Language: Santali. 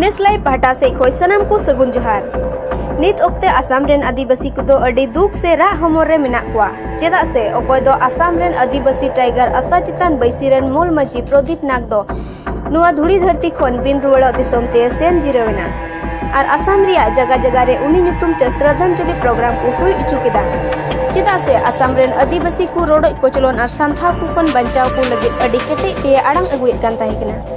ᱱᱮᱥᱞᱟᱭ ᱯᱟᱦᱴᱟ ᱥᱮᱡ ᱠᱷᱚᱡ ᱥᱟᱱᱟᱢ ᱠᱚ ᱥᱟᱹᱜᱩᱱ ᱡᱚᱦᱟᱨ ᱱᱤᱛ ᱚᱠᱛᱮ ᱟᱥᱟᱢ ᱨᱮᱱ ᱟᱹᱫᱤᱵᱟᱹᱥᱤ ᱠᱚᱫᱚ ᱟᱹᱰᱤ ᱫᱩᱠ ᱥᱮ ᱨᱟᱜ ᱦᱚᱢᱚᱨ ᱨᱮ ᱢᱮᱱᱟᱜ ᱠᱚᱣᱟ ᱪᱮᱫᱟᱜ ᱥᱮ ᱚᱠᱚᱭ ᱫᱚ ᱟᱥᱟᱢ ᱨᱮᱱ ᱟᱹᱫᱤᱵᱟᱹᱥᱤ ᱴᱟᱭᱜᱟᱨ ᱟᱥᱟ ᱪᱮᱛᱟᱱ ᱵᱟᱹᱭᱥᱤ ᱨᱮᱱ ᱢᱩᱞ ᱢᱟᱹᱡᱷᱤ ᱯᱨᱚᱫᱤᱯ ᱱᱟᱜᱽ ᱫᱚ ᱱᱚᱣᱟ ᱫᱷᱩᱲᱤ ᱫᱷᱟᱹᱨᱛᱤ ᱠᱷᱚᱱ ᱵᱤᱱ ᱨᱩᱣᱟᱹᱲᱚᱜ ᱫᱤᱥᱚᱢ ᱛᱮ ᱥᱮᱱ ᱡᱤᱨᱟᱹᱣ ᱮᱱᱟ ᱟᱨ ᱟᱥᱟᱢ ᱨᱮᱭᱟᱜ ᱡᱟᱜᱟ ᱡᱟᱜᱟ ᱨᱮ ᱩᱱᱤ ᱧᱩᱛᱩᱢ ᱛᱮ ᱥᱨᱟᱫᱷᱟᱱᱡᱚᱞᱤ ᱯᱨᱳᱜᱨᱟᱢ ᱠᱚ ᱦᱩᱭ ᱦᱚᱪᱚ ᱠᱮᱫᱟ ᱪᱮᱫᱟᱜ ᱥᱮ ᱟᱥᱟᱢ ᱨᱮᱱ ᱟᱹᱫᱤᱵᱟᱹᱥᱤ ᱠᱚ ᱨᱚᱰᱚᱡ ᱠᱚᱪᱞᱚᱱ ᱟᱨ ᱥᱟᱱᱛᱷᱟᱣ ᱠᱚ ᱠᱷᱚᱱ ᱵᱟᱧᱪᱟᱣ ᱠᱚ ᱞᱟᱹᱜᱤᱫ ᱟᱹᱰᱤ ᱠᱮᱴᱮᱡ ᱛᱮ ᱟᱲᱟᱝ ᱟᱹᱜᱩᱭᱮᱫ ᱠᱟᱱ ᱛᱟᱦᱮᱸ ᱠᱟᱱᱟ